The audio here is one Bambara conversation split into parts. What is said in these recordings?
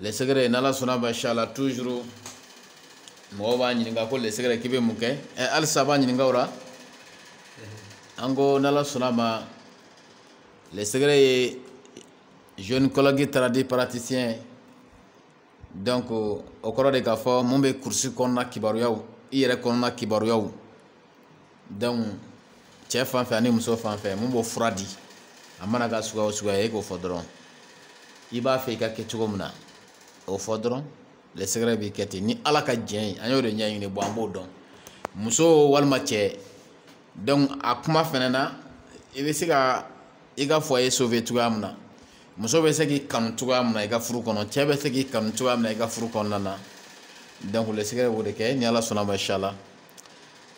le secret n'ala sɔnna ma inshallah toujours mɔgɔw b'a ɲininka ko le secret k'i bɛ mun kɛ ɛ halisa b'a ɲininka o la an ko n'ala sɔnna ma le secret ye gynécologue tradipraticien donc o kɔrɔ de k'a fɔ mun bɛ kurusi kɔnɔna kibaruyaw i yɛrɛ kɔnɔna kibaruyaw cɛ fan fɛ ani muso fan fɛ mun b'o fura di a mana kɛ suguya o suguya ye e k'o fɔ dɔrɔn i b'a fɛ i ka kɛ cogo min na o fɔ dɔrɔn le secret b'i kɛ ten ni ala ka jɛn ye an y'o de ɲɛɲini bon an b'o dɔn muso walima cɛ a kuma fɛnɛ na i bɛ se ka i ka foyer sauver cogoya min na muso bɛ se k'i kanu cogoya min na i ka furu kɔnɔ cɛ bɛ se k'i kanu cogoya min na i ka furu kɔnɔna donc le secret b'o de kɛ ni ala sɔnna ma inshallah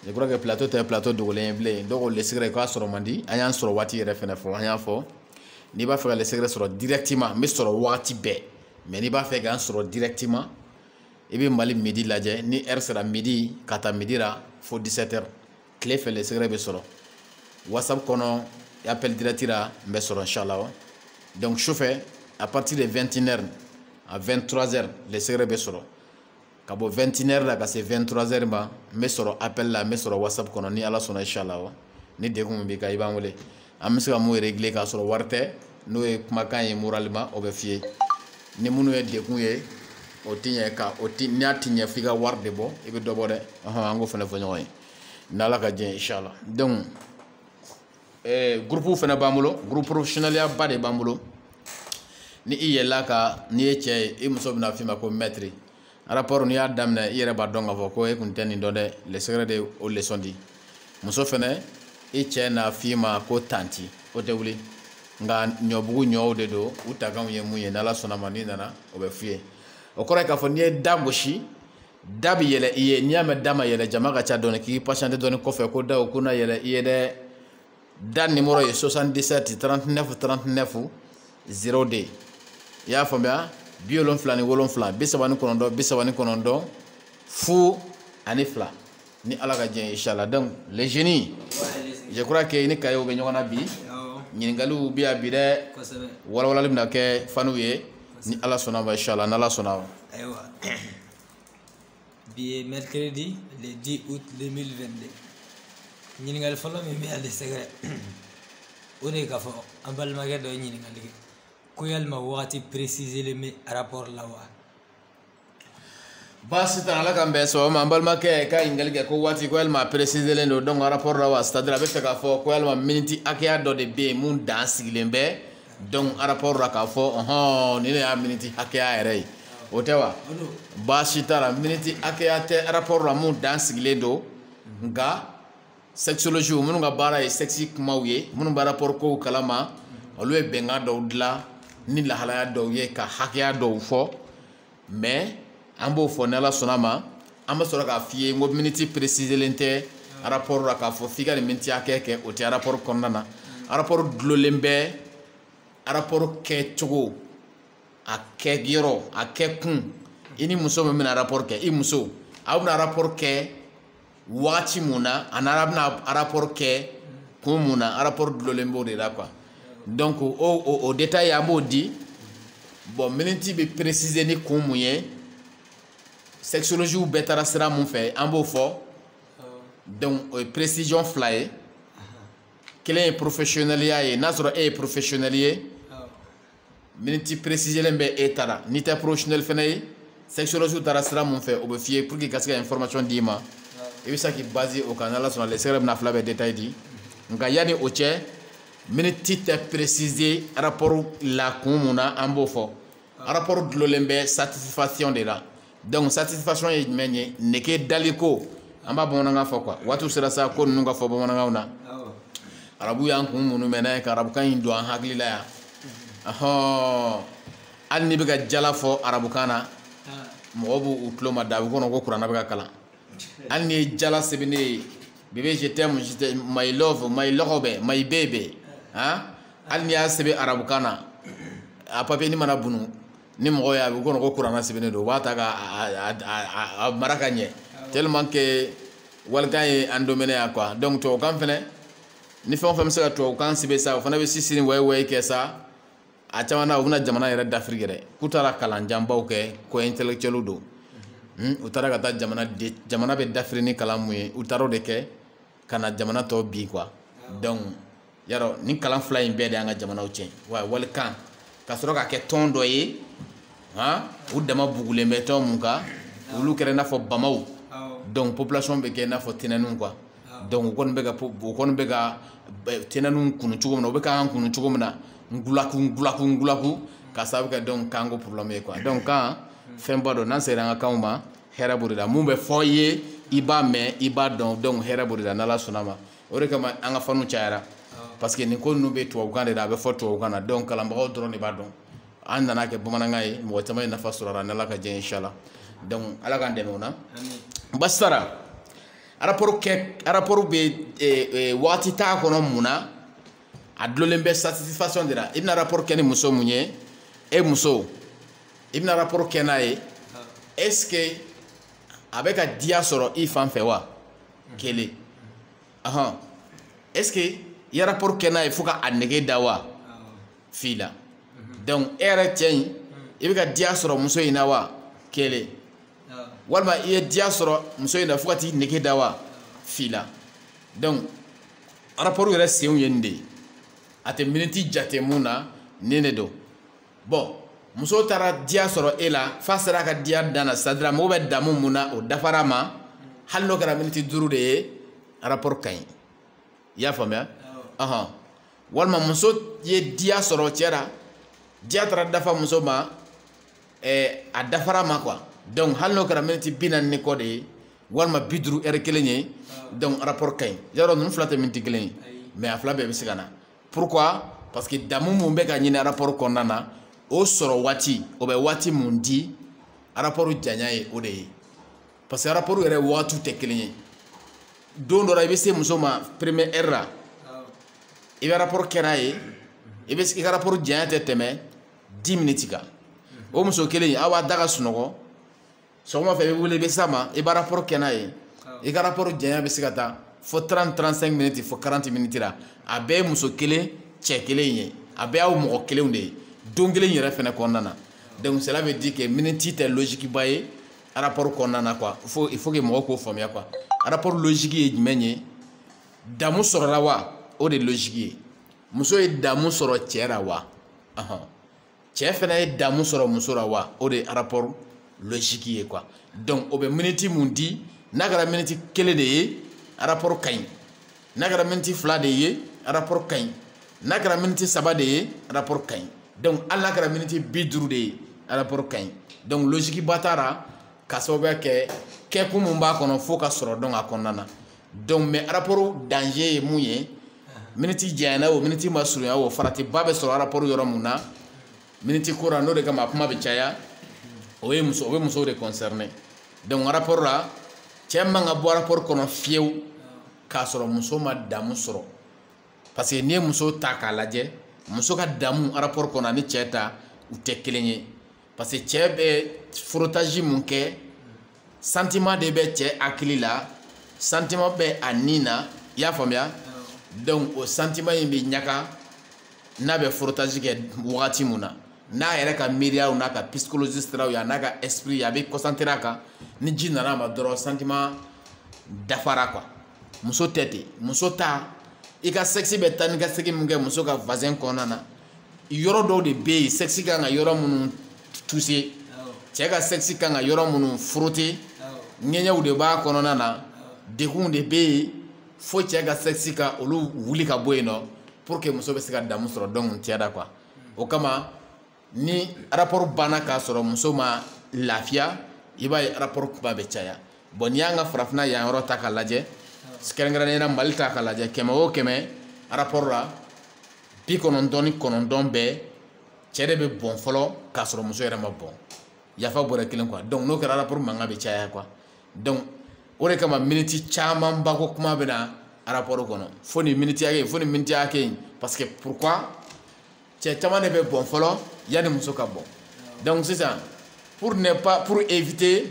je crois que plateau tɛ plateau dogolen ye bilen dɔw ko le secret k'a sɔrɔ man di an y'an sɔrɔ waati yɛrɛ fɛnɛ fɔ an y'a fɔ n'i b'a fɛ ka le secret sɔrɔ directement n bɛ sɔrɔ waati bɛɛ mais n'i b'a fɛ k'an sɔrɔ directement i bɛ mali midi lajɛ ni heure sera midi ka taa midi la fo 17 heures tile fɛ le secret bɛ sɔrɔ whatsapp kɔnɔ appel direct la n bɛ sɔrɔ inshallah donc sufɛ à partir de 21 heures à 23 heures le secret bɛ sɔrɔ ka bɔ 21 heures la ka se 23 heures ma n bɛ sɔrɔ appel la n bɛ sɔrɔ whatsapp kɔnɔ ni ala sɔnna inshallah ni degun min b'i kan i b'an wele an bɛ se ka mun régler k'a sɔrɔ wari tɛ n'o ye kumakan ye moralement o bɛ f'i ye ni minnu ye degun ye o ti ɲɛ ka o ti n'a ti ɲɛ f'i ka wari de bɔ i bɛ dɔ bɔ dɛ an k'o fana fɔ ɲɔgɔn ye n'ala ka jɛn inshallah donc eh, gurupuw fana b'an bolo gurupu porofesiyonɛliya ba de b'an bolo ni i yɛlɛla a kan n'i ye cɛ ye i muso bɛna f'i ma ko mɛtiri rapport n'i y'a daminɛ i yɛrɛ b'a dɔn k'a fɔ ko e kun tɛ nin dɔn dɛ le secret de o leçon di muso fɛnɛ i cɛ n'a f'i ma ko tanti o tɛ wuli nka ɲɔbugu ɲɔw de don u takanw ye mun ye n'ala sɔnna ma n'i nana o bɛ f'i ye o kɔrɔ ye k'a fɔ n'i ye da gosi da bi yɛlɛ i ye n'i y'a mɛn da ma yɛlɛ jama ka ca dɔɔni k'i patiente dɔɔni kɔfɛ ko daw ko na yɛlɛ i ye dɛ da nimoro ye 77 39 39 02 i y'a faamuya bi wolonfila ni wolonfila bi saba ni kɔnɔntɔn bi saba ni kɔnɔntɔn fu ani fila ni ala ka jɛn inshallah donc le génie je crois que ni kayew bɛ ɲɔgɔn na bi ɲininkaliw bɛ yan bi dɛ walawalali bɛna kɛ fanw ye ni ala sɔnna ma inshallah n'ala sɔnna ma ayiwa bi ye mercredi le 10 août 2022 ɲininkali fɔlɔ min bɛ yan le secret o de ye k'a fɔ an balimakɛ dɔ ye ɲininkali kɛ ko yalima wagati préciselen bɛ rapport la wa baasi t'a la ala k'an bɛn sɔgɔma an balimakɛ ka ɲininkali kɛ ko waati ko yalima peresiselen don donc rapport la wa c'est-à-dire a bɛ fɛ k'a fɔ ko yalima miniti hakɛya dɔ de bɛ yen mun dan sigilen bɛ donc rapport la k'a fɔ ɔhɔn nin de y'a miniti hakɛya yɛrɛ ye o tɛ wa baasi t'a la miniti hakɛya tɛ rapport la mun dan sigilen don nka sexologiw minnu ka baara ye sexe kumaw ye minnu bɛ rapport kow kalama olu ye bɛnkan dɔw dilan ni lahalaya dɔw ye ka hakɛya dɔw fɔ mais an b'o fɔ n'ala sɔnna ma an bɛ sɔrɔ k'a f'i ye n ko miniti peresizelen tɛ rapport la k'a fɔ f'i ka nin miniti hakɛ kɛ o tɛ rapport kɔnɔna na rapport dulolen bɛ rapport kɛcogo a kɛ yɔrɔ a kɛ kun i ni muso min bɛna rapport kɛ i muso aw bɛna rapport kɛ wagati mun na ani aw bɛna rapport kɛ kun mun na rapport dulolen b'o de la quoi donc o o o détail an b'o di bon miniti bɛ préciser ni kun mun ye sexologiw bɛɛ taara sira mun fɛ an b'o fɔ donc o ye précision fila ye kelen ye professionnelya ye n'a sɔrɔ e ye professionnel ye. miniti peresizelen bɛ e ta la n'i tɛ porofesiyonɛli fana ye sexologiw taara sira mun fɛ o bɛ f'i ye pour que ka se ka information d'i ma i bɛ se k'i baze o kan n'ala sɔnna le secret bɛna fila bɛɛ detaye di nka yanni o cɛ miniti tɛ peresize arapɔri la kun mun na an b'o fɔ arapɔri dulolen bɛ satisifasiyɔn de la donc satisfaction ye jumɛn ye nege daliko an b'a bamanankan fɔ quoi waatiw sera sa ko ninnu ka fɔ bamanankanw na arabu y'an kun minnu mɛ n'a ye ka arabukan in don an hakili la yan ɔhɔn hali n'i bɛ ka jala fɔ arabukan na mɔgɔw b'u tulo mada a b'u kɔnɔ ko kurana bɛ ka kalan hali n'i ye jala sɛbɛn ne ye bebe je t'aime je t'aime my love my lɔgɔbɛ my baby han hali n'i y'a sɛbɛn arabukan na a papiye nin mana bunu ni mɔgɔ y'a ye a b'u kɔnɔ ko kurana sɛbɛnnen don u b'a ta ka a mara ka ɲɛ tellement que walikan ye an dominɛ yan quoi donc tubabukan fɛnɛ ni fɛn o fɛn bɛ se ka tubabukan sɛbɛn sa o fana bɛ sisiri wayi wayi kɛ sa a caman na u bɛna jamana yɛrɛ dafiri yɛrɛ k'u taara kalan janbaw kɛ ko intellectuel don u taara ka taa jamana de jamana bɛ dafiri ni kalan mun ye u taara o de kɛ ka na jamana tɔ bin quoi donc yarɔ nin kalan fila in bɛɛ de y'an ka jamanaw tiɲɛ wa walikan ka sɔrɔ k'a kɛ tɔn dɔ ye han u dama bugulen bɛ tɔn mun kan olu kɛra i n'a fɔ bamaw donc population bɛ kɛ i n'a fɔ tɛnɛninw quoi donc u kɔni bɛ ka u kɔni bɛ ka tɛnɛninw kunu cogo min na u bɛ k'an kunu cogo min na ngulaku ngulaku ngulaku ka sababu kɛ donc kan ko problème ye quoi donc kan fɛnba don n'an sera an ka kanw ma hɛrɛ b'o de la mun bɛ fɔ i ye i b'a mɛn i b'a dɔn donc hɛrɛ b'o de la n'ala sɔnna ma o de kama an ka fanw cayara parce que nin ko ninnu bɛ tubabukan de la a bɛ fɔ tubabukan na donc kalanbagaw dɔrɔn de b'a dɔn an nana kɛ bamanankan ye mɔgɔ caman ye nafa sɔrɔ a la n'ala ka diɲɛ inshallah donc ala k'an dɛmɛ o la basara rapport kɛ rapport bɛ eh, eh, waati t'a kɔnɔ mun na a dulonlen bɛ satisfaction de la i bɛna rapport kɛ ni muso mun ye e muso i bɛna rapport kɛ n'a ye est ce que a bɛ ka diya sɔrɔ i fan fɛ wa kelen ahɔn est ce que i ye rapport kɛ n'a ye fo ka a nege da wa fila donc e yɛrɛ cɛ in i bɛ ka diya sɔrɔ muso in na wa kelen walima i ye diya sɔrɔ muso in na fo ka t'i nege da wa fila donc rapport yɛrɛ senw ye nin de ye a tɛ miniti jate mun na nin de don bon muso taara diya sɔrɔ e la f'a sera ka diya dan na c'est à dire mago bɛ damu mun na o dafara a ma hali n'o kɛra miniti duuru de ye rapport ka ɲi i y'a faamuya ɔhɔn walima muso ye diya sɔrɔ cɛ la diya taara dafa muso ma ɛɛ a dafara a ma quoi donc hali n'o kɛra miniti bi naani ni kɔ de ye walima bi duuru heure kelen ye donc rapport ka ɲi yɔrɔ ninnu fila tɛ miniti kelen ye mais a fila bɛɛ bɛ se ka na pourquoi parce que damu mun bɛ ka ɲini rapport kɔnɔna na o sɔrɔ waati o bɛ waati mun di rapport janya ye o de ye parce que rapport yɛrɛ waatiw tɛ kelen ye don dɔ la i bɛ se muso ma première heure la i bɛ rapport kɛ n'a ye i ka rapport janya tɛ tɛmɛ dix minutes kan o muso kelen aw b'a da ka sunɔgɔ sɔgɔma fɛ i bɛ wuli i bɛ s'a ma i bɛ rapport kɛ n'a ye i ka rapport janya bɛ se ka taa fo 30 35 minutes fo 40 minutes la a bɛɛ ye muso kelen cɛ kelen ye a bɛɛ y'aw mɔgɔ kelenw de ye don kelen yɛrɛ fɛnɛ kɔnɔna na donc cela veut dire que miniti tɛ logique ba ye rapport kɔnɔna na quoi faut il faut que mɔgɔw k'o faamuya quoi rapport logique ye jumɛn ye damu sɔrɔla wa o de logique ye muso ye damu sɔrɔ cɛ la wa ɔhɔn cɛ fɛnɛ ye damu sɔrɔ muso la wa o de rapport logique ye quoi donc o bɛ miniti mun di n'a kɛra miniti kelen de ye rapport ka ɲi n'a kɛra miniti fila de ye rapport ka ɲi n'a kɛra miniti saba de ye rapport ka ɲi donc hali n'a kɛra miniti bi duuru de ye rapport ka ɲi donc logique ba t'a la ka sababuya kɛ kɛkun mun b'a kɔnɔ fo ka sɔrɔ donc a kɔnɔna na donc mais rapport danger ye mun ye miniti janyana o miniti ma surunya o faratiba bɛ sɔrɔ rapport yɔrɔ mun na miniti ko la n'o de kama a kuma bɛ caya o ye muso o bɛ musow de concerné donc rapport la cɛ man ka bɔ rapport kɔnɔ fiyewu k'a sɔrɔ muso ma damu sɔrɔ parce que n'i ye muso ta k'a lajɛ muso ka damu rapport kɔnɔ ani cɛ ta u tɛ kelen ye parce que cɛ bɛ frottage mun kɛ sentiment de bɛ cɛ hakili la sentiment bɛ a ni na i y'a faamuya donc o sentiment in bɛ ɲaga n'a bɛ frottage kɛ wagati mun na n'a yɛrɛ ka miiriyaw n'a ka psychologie siraw ye an'a ka esprit ye a bɛ concentré a kan ni ji nana a ma dɔrɔn sentiment dafara quoi muso tɛ ten muso ta i ka sexe bɛ taa ni ka segin mun kɛ muso ka vagin kɔnɔna na yɔrɔ dɔw de bɛ yen sexe kan ka yɔrɔ minnu toucher cɛ ka sexe kan ka yɔrɔ minnu frotter ŋɛɲɛw de b'a kɔnɔna na degun de bɛ yen fo cɛ ka sexe ka olu wuli ka bɔ yen nɔ pour que muso bɛ se ka damu sɔrɔ donc cɛ da quoi o kama ni rapport banna k'a sɔrɔ muso ma lafiya i b'a ye rapport kuma bɛ caya bon n'i y'an ka farafinna yan yɔrɔ ta k'a lajɛ kɛrɛnkɛrɛnnenya mali ta k'a lajɛ kɛmɛ o kɛmɛ rapport la bi kɔnɔntɔn ni kɔnɔntɔn bɛɛ cɛ de bɛ bɔn fɔlɔ k'a sɔrɔ muso yɛrɛ ma bɔn yafa bɔrɛ kelen quoi donc n'o kɛra rapport mankan bɛ caya quoi donc o de kama miniti camanba ko kuma bɛ na rapport kɔnɔ fo nin miniti hakɛ fo nin miniti hakɛ in parce que pourquoi cɛ caman de bɛ bɔn fɔlɔ yanni muso ka bɔn donc sisan pour ne pas pour éviter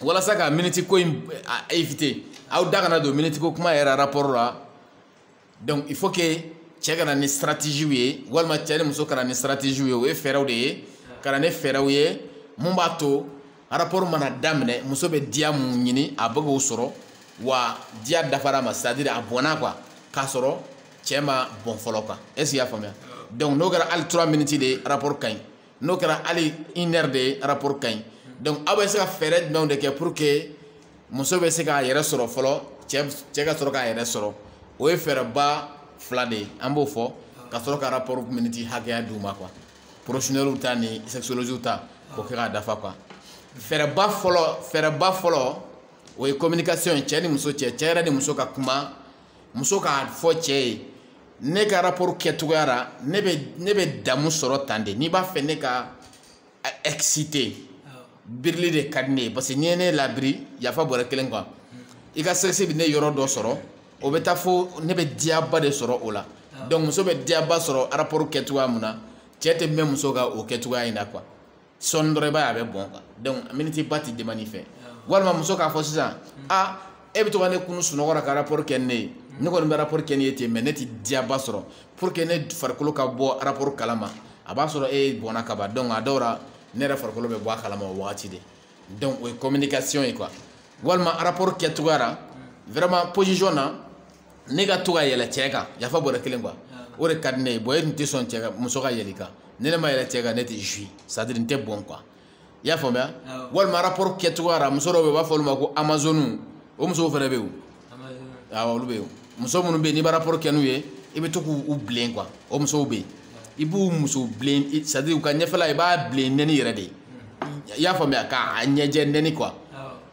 walasa ka miniti ko in éviter aw da kana don miniti ko kuma yɛrɛ rapport la donc il faut que cɛ ka na ni stratégie ye walima cɛ ni muso ka na ni stratégie ye o ye fɛɛrɛw de ye ka na ni fɛɛrɛw ye mun b'a to rapport mana daminɛ muso bɛ diya mun ɲini a bɛ k'o sɔrɔ wa diya dafara ma c'est à dire a bɔnna quoi k'a sɔrɔ cɛ ma bɔn fɔlɔ quoi est ce que i y'a faamuya donc n'o kɛra hali 3 minutes de rapport ka ɲi n'o kɛra hali une heure de ye rapport ka ɲi donc aw bɛ se ka fɛɛrɛ jumɛnw de kɛ pour que muso bɛ se k'a yɛrɛ sɔrɔ fɔlɔ cɛ cɛ ka sɔrɔ k'a yɛrɛ sɔrɔ o ye fɛɛrɛba fila de ye an b'o fɔ ka sɔrɔ ka rapport miniti hakɛya d'u ma quoi professionnels ta ni sexologistes ta k'o kɛ k'a dafa quoi fɛɛrɛba fɔlɔ fɛɛrɛba fɔlɔ o ye communication ye cɛ ni muso cɛ cɛ yɛrɛ ni muso ka kuma muso k'a fɔ cɛ ye ne ka rapport kɛcogoya la ne bɛ ne bɛ damu sɔrɔ tan de n'i b'a fɛ ne ka excité birili de ka di ne ye parce que n'i ye ne labiri yafa bɔrɛ kelen quoi i ka sexe bɛ ne yɔrɔ dɔ sɔrɔ o bɛ taa fo ne bɛ diyaba de sɔrɔ o la donc muso bɛ diyaba sɔrɔ rapport kɛcogoya mun na cɛ tɛ mɛn muso ka o kɛcogoya in na quoi sɔɔni dɔrɔn i b'a ye a bɛ bɔn quoi donc minitiba ti demander i fɛ walima muso k'a fɔ sisan a e bɛ to ka ne kunun sunɔgɔ la ka rapport kɛ ne ye ne kɔni bɛ rapport kɛ n'i ye ten mais ne ti diyaba sɔrɔ pour que ne farikolo ka bɔ rapport kala ma a b'a sɔrɔ e bɔnna ka ban donc a dɔw la ne yɛrɛ farikolo bɛ bɔ a kala ma o wagati de donc o ye communication ye quoi walima rapport kɛcogoya la vraiment position na ne ka to ka yɛlɛ cɛ kan yafa bɔrɛ kelen quoi o de ka di ne ye bon e tun tɛ sɔn cɛ ka muso ka yɛlɛ i kan ni ne ma yɛlɛ cɛ kan ne tɛ jouir c'est à dire n tɛ bɔn quoi i y'a faamuya walima rapport kɛcogoya la muso dɔw bɛ yen u b'a fɔ olu ma ko amazoniw o musow fana bɛ yen awɔ olu bɛ yen muso minnu bɛ yen n'i bɛ rapport kɛ n'u ye i bɛ to k'u bilen quoi o musow bɛ yen i b'u muso bilen c'est à dire u ka ɲɛfɛla i b'a bilen nɛni yɛrɛ de ye i y'a faamuya k'a ɲɛjɛ nɛni quoi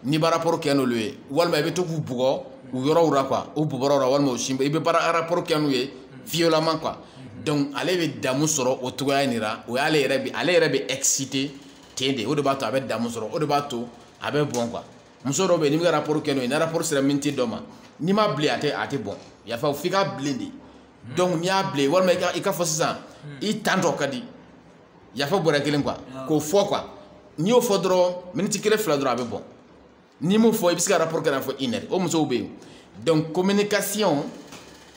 n'i bɛ rapport kɛ n'olu ye walima i bɛ to k'u bugɔ u yɔrɔw la quoi u bɔbɔrɔw la walima u sin i bɛ baara rapport kɛ n'u ye violemment quoi donc ale bɛ damu sɔrɔ o cogoya in de la o y'ale yɛrɛ bi ale yɛrɛ bɛ excité ten de o de b'a to a bɛ damu sɔrɔ o de b'a to a bɛ bɔn quoi muso dɔw bɛ yen n'i bɛ ka rapport kɛ n'o ye ni rapport sera miniti dɔ ma n'i m'a bilen a tɛ a tɛ bɔn yafa f'i k'a bilen de donc n'i y'a bilen walima i ka i ka fɔ sisan i tantɔ ka di yafa bɔrɛ kelen quoi k'o fɔ quoi n'i y'o fɔ dɔrɔn miniti kelen fila dɔrɔn a bɛ bɔn n'i m'o fɔ i bɛ se ka rapport kɛ n'a fo une heure o musow bɛ yen donc communication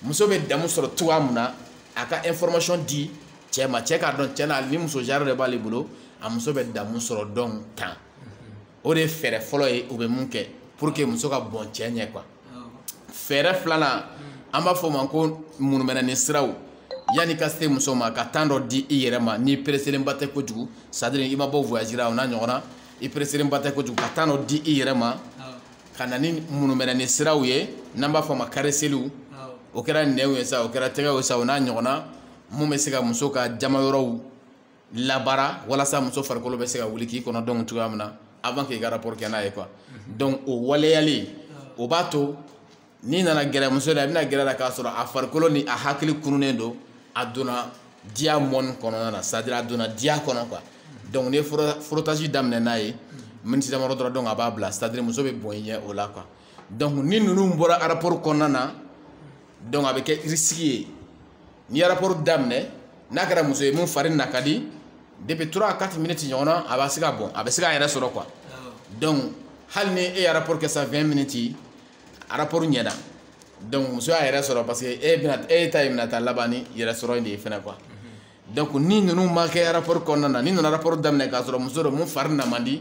muso bɛ damu sɔrɔ cogoya mun na a ka information di cɛ ma cɛ k'a dɔn cɛ na nin muso genre de b'ale bolo a muso bɛ damu sɔrɔ dɔn tan o de ye fɛɛrɛ fɔlɔ ye u bɛ mun kɛ pour que muso ka bɔn cɛ ɲɛ quoi fɛɛrɛ filanan an b'a fɔ o ma ko munumɛnɛni siraw yanni ka se muso ma ka temps dɔ di i yɛrɛ ma n'i pereselenba tɛ kojugu c'est à dire i ma bɔ voyage la o n'a ɲɔgɔnna i pereselenba tɛ kojugu ka temps dɔ di i yɛrɛ ma ka na ni munumɛnɛni siraw ye n'an b'a fɔ a ma caresseliw o kɛra nɛnw ye sa o kɛra tɛgɛw ye sa o n'a ɲɔgɔnna mun bɛ se ka muso ka jama yɔrɔw labara walasa muso farikolo bɛ se ka wuli k'i kɔnɔ dɔn cogoya min na avant k'i ka rapport kɛ n'a ye quoi donc o waleyali o b'a to n'i nana gɛrɛ muso la i bɛna gɛrɛ a la k'a sɔrɔ a farikolo ni a hakili kununnen don a donna diya mɔni kɔnɔna na c'est à dire a donna diya kɔnɔ quoi donc n'i ye frottage daminɛ n'a ye miniti damadɔ dɔrɔn donc a b'a bila c'est à dire muso bɛ bɔn i ɲɛ o la quoi donc ni ninnu bɔra rapport kɔnɔna na donc a bɛ kɛ risque ye n'i ye rapport daminɛ n'a kɛra muso ye mun fari na ka di depuis 3 à 4 minutes ɲɔgɔn na a bɛ se ka bɔn a bɛ se k'a yɛrɛ sɔrɔ quoi donc hali ni e ye rapport kɛ sa 20 minutes rapport ɲɛna donc muso y'a yɛrɛ sɔrɔ parce que e ta ye bɛna taa laban ni yɛrɛ sɔrɔ in de ye fɛnɛ quoi donc ni ninnu ma kɛ rapport kɔnɔna na n'i nana rapport daminɛ k'a sɔrɔ muso don mun fari na man di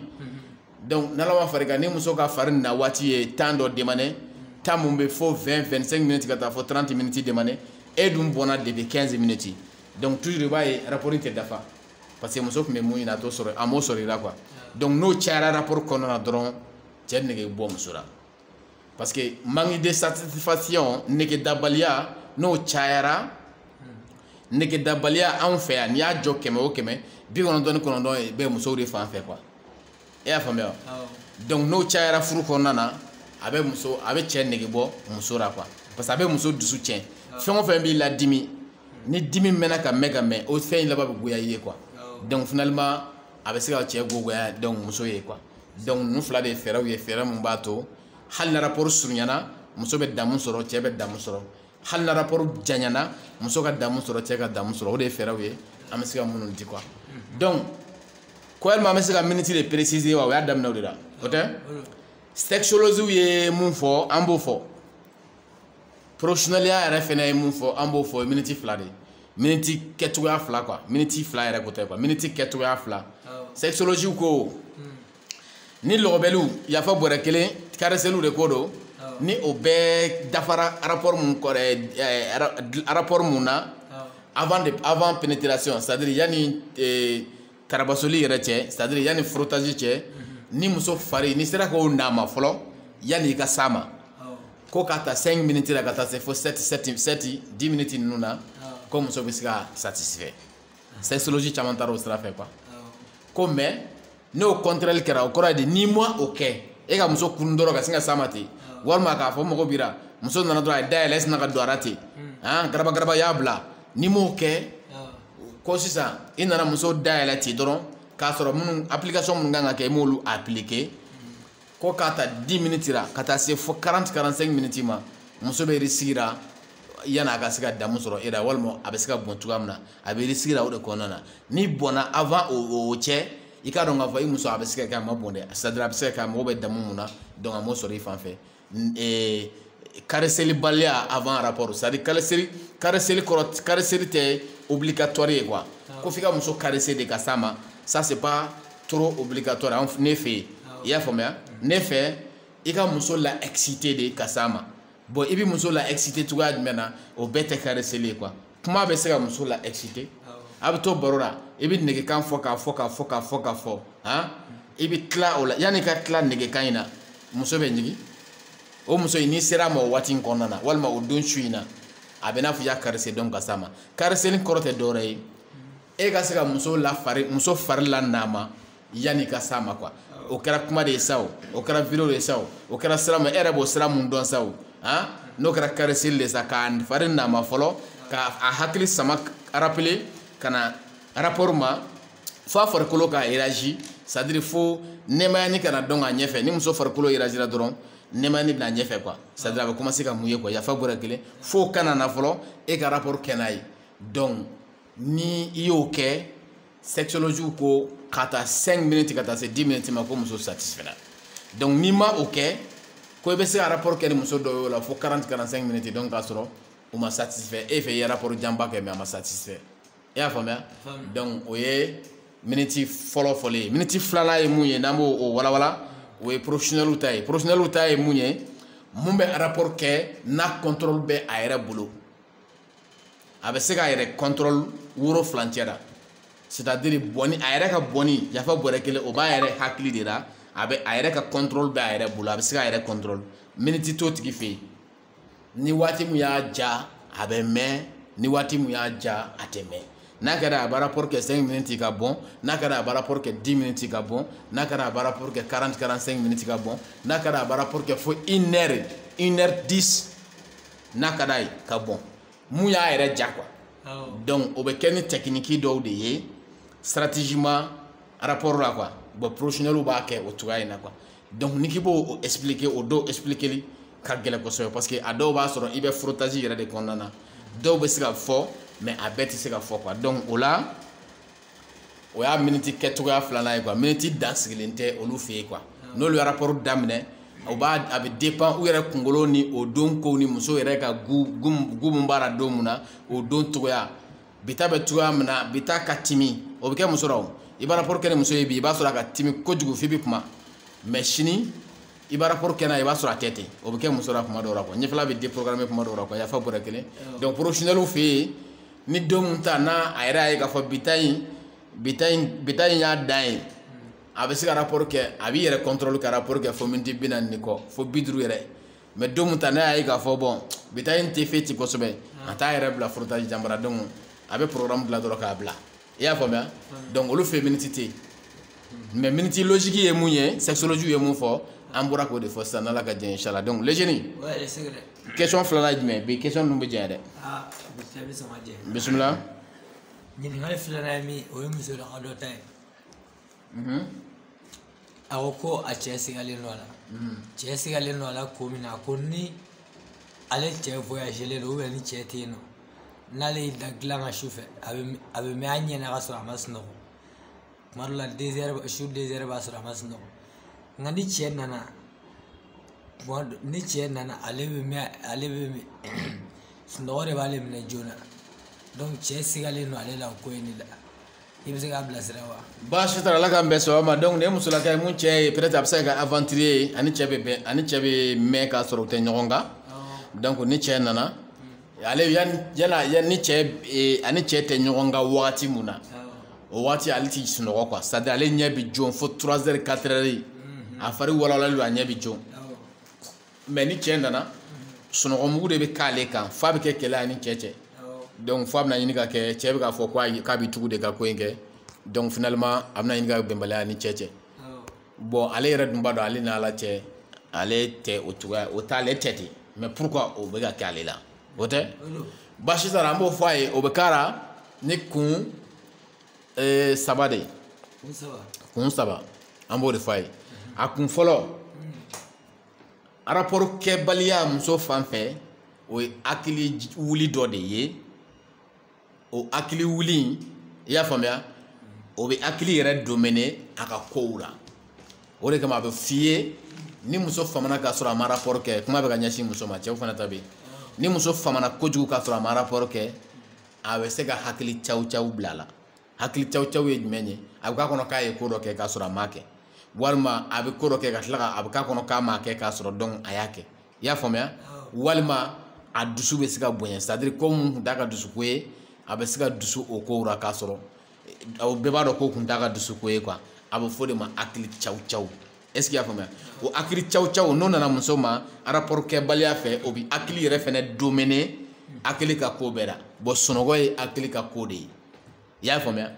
donc n'ala ma far'i kan ni muso ka fari na waati ye temps dɔ demandé temps mun bɛ fo 20 25 minutes ka taa fo 30 minutes demandé e dun bɔnna depuis 15 minutes donc toujours i b'a ye rapport tɛ dafa parce que muso tun bɛ mun ɲini a t'o sɔrɔ a m'o sɔrɔ i la quoi donc n'o cayara rapport kɔnɔna na dɔrɔn cɛ nege bɛ bɔ muso la parce que manque de satisfaction negedabaliya n'o cayara negedabaliya anw fɛ yan n'i y'a jɔ kɛmɛ o kɛmɛ bi kɔnɔntɔn ni kɔnɔntɔn ye bɛɛ musow de fan fɛ quoi e y'a faamuya donc n'o cayara furu kɔnɔna na a bɛ muso a bɛ cɛ nege bɔ muso la quoi parce que a bɛ muso dusu tiɲɛ fɛn o fɛn b'i la dimi ni dimi mɛnna ka mɛn ka mɛn o fɛn in laban bɛ goya i ye quoi donc finalement a bɛ se ka cɛ ko goya donc muso ye quoi donc ninnu fila de ye fɛɛrɛw ye fɛɛrɛ mun b'a to hali na rapport surunyana muso bɛ damu sɔrɔ cɛ bɛ damu sɔrɔ hali na rapport janyana muso ka damu sɔrɔ cɛ ka damu sɔrɔ o de ye fɛɛrɛw ye an bɛ se ka minnu di quoi donc ko yalima an bɛ se ka minute de préciser wa o y'a daminɛ o de la o tɛ sexologiw ye mun fɔ an b'o fɔ professionneliya yɛrɛ fɛnɛ ye mun fɔ an b'o fɔ o ye minute fila de ye miniti kɛcogoya fila quoi miniti fila yɛrɛ ko tɛ quoi miniti kɛcogoya fila sexologiw ko ni lɔgɔbɛliw yafa bɔrɛ kelen kareseliw de ko don ni o bɛɛ dafara rapport mun kɔrɛ rapport mun na avant de avant pénétration c'est à dire yanni eh, tarabasoli yɛrɛ cɛ c'est à dire yanni frottage cɛ ni muso fari n'i sera k'o nama fɔlɔ yanni i ka s'a ma ko ka ta 5 minutes la ka taa se fo 7 7 7 10 minutes ninnu na ko muso bɛ se ka satisfait sexologi caman taara o sira fɛ quoi ko mais n'o contraire kɛra o kɔrɔ ye di n'i ma o kɛ e ka muso kunun dɔrɔn ka sin ka s'a ma ten walima k'a fɔ mɔgɔ bira muso nana dɔrɔn a y'i dayɛlɛ i sinna ka don a ra ten han garaba garaba y'a bila n'i m'o kɛ ko sisan i nana muso dayɛlɛ ten dɔrɔn k'a sɔrɔ minnu application minnu kan ka kɛ i m'olu appliquer ko k'a ta 10 minutes la ka taa se fo 40 45 minutes ma muso bɛ risque ra yanni a ka se ka damu sɔrɔ e la walima a bɛ se ka bɔn cogoya min na a bɛ risque ra o de kɔnɔna na n'i bɔnna avant o o cɛ i k'a dɔn k'a fɔ i muso a bɛ se ka kɛ a ma bɔn dɛ c'est à dire a bɛ se ka kɛ a mago bɛ damu mun na donc a m'o sɔrɔ i fan fɛ ee kareselibaliya avant rapport c'est à dire kareseli kareseli kɔrɔ kareseli tɛ obligatoire ye quoi ko f'i ka muso karese de ka s'a ma ça c'est pas trop obligatoire an ne fɛ yen i y'a faamuya ne fɛ i ka muso la exciter de ka s'a ma bon i bɛ muso la exciter cogoya jumɛn na o bɛɛ tɛ kareseli ye quoi kuma bɛ se ka muso la exciter a bɛ to baro la i bɛ negekan fɔ k'a fɔ k'a fɔ k'a fɔ k'a fɔ han i bɛ tila o la yanni i ka tila negekan in na muso bɛ ɲigin o muso in n'i sera a ma o waati in kɔnɔna na walima o don su in na a bɛ n'a fɔ i y'a caresser donc ka s'a ma kareseli kɔrɔ tɛ dɔwɛrɛ ye e ka se ka muso la fari muso fari la nama yanni ka s'a ma quoi o kɛra kuma de ye sa o o kɛra vidéo de ye sa o o kɛra sira min e yɛrɛ b'o sira mun dɔn sa o han n'o kɛra kareseli de sa k'a fari nama fɔlɔ ka a hakili sama rappeler ka na rapport ma fo a farikolo ka réagir c'est à dire fo nɛmayani ka na donc a ɲɛfɛ ni muso farikolo réagira dɔrɔn nɛmayani bɛ n'a ɲɛfɛ quoi c'est à dire a bɛ commencer ka mouiller quoi yafa bɔrɛ kelen fo k'a nama fɔlɔ e ka rapport kɛ n'a ye donc ni i y'o kɛ sexologiw ko ka taa 5 minutes ka taa se 10 minutes ma ko muso satisfera donc n'i ma o kɛ ko i bɛ se ka rapport kɛ ni muso dɔ ye o la fo 40 45 minutes donc k'a sɔrɔ o ma satisfait e fɛ i ye rapport janba kɛ mais a ma satisfait i y'a faamuya donc o ye miniti fɔlɔ fɔlɔ ye miniti filanan ye mun ye n'an bɛ o walawala o ye professionnel ta ye professionnel ta ye mun ye mun bɛ rapport kɛ n'a contrôle bɛ a yɛrɛ bolo a bɛ se k'a yɛrɛ contrôle woro filancɛ la c'est à dire bɔnni a yɛrɛ ka bɔnni yafa bɔrɛ kelen o b'a yɛrɛ hakili de la a bɛ a yɛrɛ ka contrôle bɛ a yɛrɛ bolo a bɛ se k'a yɛrɛ contrôle miniti t'o tigi fɛ yen ni waati min y'a ja a bɛ mɛn ni waati min y'a ja a tɛ mɛn n'a kɛra a b'a rapport kɛ 5 minutes ka bɔn n'a kɛra a b'a rapport kɛ 10 minutes ka bɔn n'a kɛra a b'a rapport kɛ 40 45 minutes ka bɔn n'a kɛra a b'a rapport kɛ fo 1 heure 1 heure 10 n'a ka d'a ye ka bɔn mun y'a yɛrɛ ja quoi donc o bɛ kɛ ni tɛkiniki dɔw de ye stratégiquement rapport la quoi bon professionnelw b'a kɛ o cogoya in na quoi donc n'i k'i b'o expliquer o dɔw expliqueli ka gɛlɛn kosɛbɛ parce que a dɔw b'a sɔrɔ i bɛ frottage yɛrɛ de kɔnɔna na dɔw bɛ se ka fɔ mais a bɛɛ tɛ se ka fɔ quoi donc o la o y'a miniti kɛ cogoya filanan ye quoi miniti dan sigilen tɛ olu fɛ yen quoi n'olu ye rapport daminɛ o b'a a bɛ dépend u yɛrɛ kunkolo ni o don kow ni muso yɛrɛ ka goût goût goût mun b'a la don mun na o don cogoya bi ta bɛ cogoya min na bi ta ka timi o bɛ kɛ muso la o i b'a rapport kɛ ni muso ye bi i b'a sɔrɔ a ka timi kojugu f'i bɛ kuma mais sini i b'a rapport kɛ n'a ye i b'a sɔrɔ a tɛ ten o bɛ kɛ muso la kuma dɔw la quoi ɲɛfɛla bɛ déprogrammer kuma dɔw la quoi yafa bɔrɛ kelen donc professionnels fɛ yen ni don mun ta n'a a yɛrɛ y'a ye k'a fɔ bi ta in bi ta in bi ta in y'a dan ye a bɛ se ka rapport kɛ a b'i yɛrɛ contrôle ka rapport kɛ fo miniti bi naani ni kɔ fo bi duuru yɛrɛ mais don mun ta n'a y'a ye k'a fɔ bon bi ta in tɛ fɛn ci kosɛbɛ a t'a yɛrɛ bila frottage janba ra donc a bɛ programme dilan dɔrɔn k'a bila i y'a faamuya donc olu fɛ miniti tɛ yen mais miniti logique ye mun ye sexologie ye mun fɔ an bɔra k'o de fɔ sisan n'ala ka diɲɛ inchallah donc le jeune question filanan ye jumɛn bi question ninnu bɛ janya dɛ bisimila ɲininkali filanan ye min o ye musolaka dɔ ta ye Mhm. a ko ko a cɛ sigalen don a la mhm. cɛ sigalen don a la ko min na a ko ni ale cɛ voyagelen don ou bien ni cɛ tɛ yen nɔ n'ale y'i da dilan kan su fɛ a bɛ a bɛ mɛn a ɲɛ na ka sɔrɔ a ma sunɔgɔ tuma dɔ la 2 heures su 2 heures b'a sɔrɔ a ma sunɔgɔ nka ni cɛ nana tuma dɔ ni cɛ nana ale bɛ mɛn ale bɛ mɛn sunɔgɔ de b'ale minɛ joona donc cɛ sigalen don ale la o ko in de la. i bɛ se k'a bilasira wa. baasi t'a la ala k'an bɛn sababu ma donc nin ye musolaka ye mun cɛ ye peut-être a bɛ se ka kɛ aventurier ye a ni cɛ bɛ bɛn a ni cɛ bɛ mɛn k'a sɔrɔ u tɛ ɲɔgɔn kan donc ni cɛ nana ale yanni yala yanni ni cɛ eh, a ni cɛ tɛ ɲɔgɔn kan wagati mun na o wagati ale tɛ sunɔgɔ quoi c'est à dire ale ɲɛ bɛ jɔ fo trois heures quatre heures a fari walawalalen don a ɲɛ bɛ jɔ. mais ni cɛ nana sunɔgɔmugu de bɛ k'ale kan f'a bɛ kɛ kɛlɛ a ni cɛ cɛ donc f'a bɛna ɲini ka kɛ cɛ bɛ k'a fɔ k'a bɛ tugu de ka ko in kɛ donc finalement a bɛna ɲini ka bɛnbaliya a ni cɛ cɛ bon ale yɛrɛ dun b'a dɔn ale n'ala cɛ ale tɛ o cogoya o t'ale tɛ ten mais pourquoi o bɛ ka kɛ ale la o tɛ baasi t'a la an b'o fɔ a ye o bɛ k'a la ni kun eh, saba de ye kun saba an b'o de fɔ a ye a kun fɔlɔ rapport kɛbaliya muso fan fɛ o ye hakili wuli dɔ de ye o hakili wuli in i y'a faamuya o bɛ hakili yɛrɛ dominer a ka kow la o de kama a bɛ f'i ye ni muso famana k'a sɔrɔ a ma rapport kɛ kuma bɛ ka ɲɛsin muso ma cɛw fana ta bɛ yen ni muso famana kojugu k'a sɔrɔ a ma rapport kɛ a bɛ se ka hakili cawucawu bila a la hakili cawucawu ye jumɛn ye a bɛ k'a kɔnɔ k'a ye ko dɔ kɛ k'a sɔrɔ a m'a kɛ walima a bɛ ko dɔ kɛ ka tila ka a bɛ k'a kɔnɔ k'a m'a kɛ k'a sɔrɔ dun a y'a kɛ i y'a faamuya walima a dusu bɛ se ka bonya c'est à dire ko mun kun t'a ka dusuko ye a bɛ se ka dusu o kow la k'a sɔrɔ o bɛɛ b'a dɔn ko kun t'a ka dusuko ye quoi a bɛ fɔ o de ma hakili cawucawu est-ce que i y'a faamuya o hakili cawucawu n'o nana muso ma rapport kɛbaliya fɛ o bɛ hakili yɛrɛ fɛnɛ dominer hakili ka ko bɛɛ la bon sunɔgɔ ye hakili ka ko de ye i y'a faamuya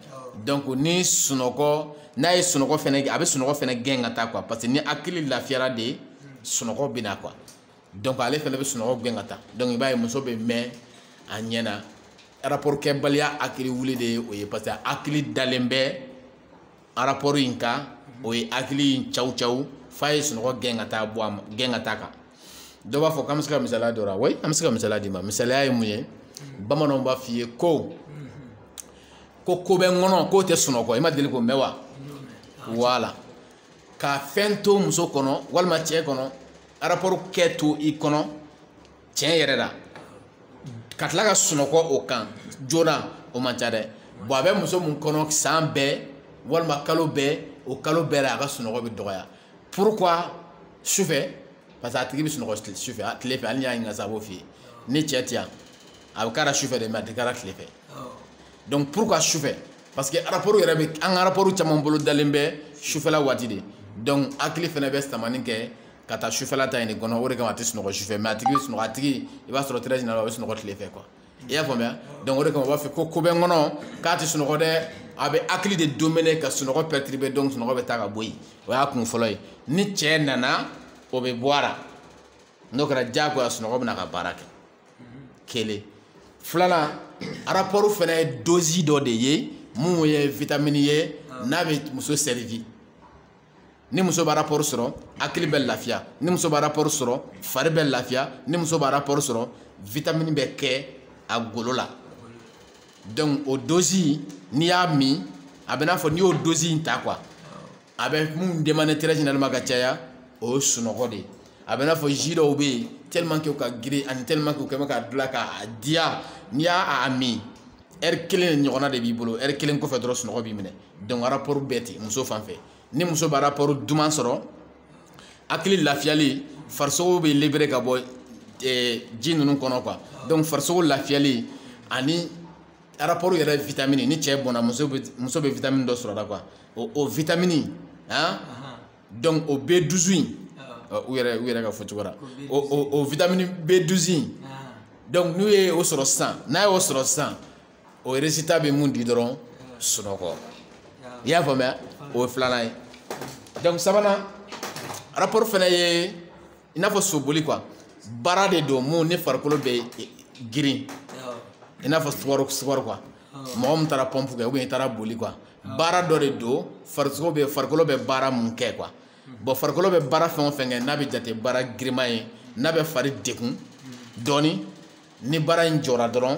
donc ni sunɔgɔ n'a ye sunɔgɔ fɛnɛ a bɛ sunɔgɔ fɛnɛ gɛn ka taa quoi parce que ni hakili lafiyara de sunɔgɔ bɛ na quoi donc ale fɛnɛ bɛ sunɔgɔ gɛn ka taa donc i b'a ye muso bɛ mɛn a ɲɛ na rapport kɛbaliya hakili wuli de ye o ye parce que hakili dalen bɛ rapport in kan o ye hakili in cawucawu f'a ye sunɔgɔ gɛn ka taa bɔ a ma gɛn ka taa kan dɔ b'a fɔ k'an bɛ se ka misaliya dɔ la oui an bɛ se ka misaliya d'i ma misaliya ye mun ye bamananw b'a f'i ye ko ko ko bɛ n kɔnɔ k'o tɛ sunɔgɔ i ma deli k'o mɛn wa voilà ka fɛn to muso kɔnɔ walima cɛ kɔnɔ rapport kɛ to i kɔnɔ tiɲɛ yɛrɛ la ka tila ka sunɔgɔ o kan joona o man ca dɛ bon a bɛ muso min kɔnɔ san bɛɛ walima kalo bɛɛ o kalo bɛɛ la a ka sunɔgɔ bɛ dɔgɔya pourquoi sufɛ parce que a tigi bɛ sunɔgɔ sufɛ a tile fɛ hali n'i y'a ɲininka sa a b'o f'i ye ni cɛ tɛ yan a bɛ k'a la sufɛ de mais a tɛ k'a la tile fɛ donc pourquoi sufɛ parce que rapport yɛrɛ bɛ an ka rapport caman bolo dalen bɛ sufɛla waati de donc hakili fana bɛ samani kɛ ka taa sufɛla ta in de kɔnɔ o de kama a tɛ sunɔgɔ sufɛ mais a tigi bɛ sunɔgɔ a tigi i b'a sɔrɔ très généralement a bɛ sunɔgɔ tile fɛ quoi i y'a faamuya donc o de kama u b'a fɔ ko ko bɛ n kɔnɔ k'a tɛ sunɔgɔ dɛ a bɛ hakili de dominer ka sunɔgɔ perturber donc sunɔgɔ bɛ taa ka bɔ yen o y'a kun fɔlɔ ye ni cɛ nana o bɛ bɔ a la n'o kɛra diyagoya sunɔgɔ bɛ na ka baara kɛ kelen filanan rapport fana ye dose dɔ de ye mun ye vitamine ye n'a bɛ muso servi ni muso bɛ rapport sɔrɔ hakili bɛ lafiya ni muso bɛ rapport sɔrɔ fari bɛ lafiya ni muso bɛ rapport sɔrɔ vitamine bɛ kɛ a golo la donc o dose n'i y'a min a bɛ n'a fɔ n'i y'o dose in ta quoi a bɛ mun demander très généralement ka caya o ye sunɔgɔ de ye a bɛ n'a fɔ ji dɔw bɛ yen tellement que u ka girin ani tellement que u kɛ bɛ ka dilan k'a diya n'i y'a a min heure kelen ɲɔgɔnna de b'i bolo heure kelen kɔfɛ dɔrɔn sunɔgɔ b'i minɛ donc rapport bɛ ten muso fan fɛ ni muso bɛ rapport duman sɔrɔ hakili lafiyali farisogo bɛ libéré ka bɔ eh, ji ninnu kɔnɔ quoi donc farisogo lafiyali ani rapport yɛrɛ vitamine ni cɛ bɔnna muso bɛ muso bɛ vitamine dɔ sɔrɔ la quoi o o vitamine han donc o B douze in u yɛrɛ u yɛrɛ ka fɔ cogo la o o o vitamine B douze in donc n'u ye o sɔrɔ sisan n'a y'o sɔrɔ sisan. o résultat bɛ mun di dɔrɔn sunɔgɔ i y'a faamuya o ye filanan ye donc sabanan rapport fana ye i n'a fɔ soboli quoi baara de don mun ni farikolo bɛ girin i n'a fɔ sport sport quoi mɔgɔ min taara pompe kɛ ou bien i taara boli quoi baara dɔ de don farisogo bɛ farikolo bɛ baara mun kɛ quoi bon farikolo bɛ baara fɛn o fɛn kɛ n'a bɛ jate baara girinman ye n'a bɛ fari degun dɔɔni ni baara in jɔra dɔrɔn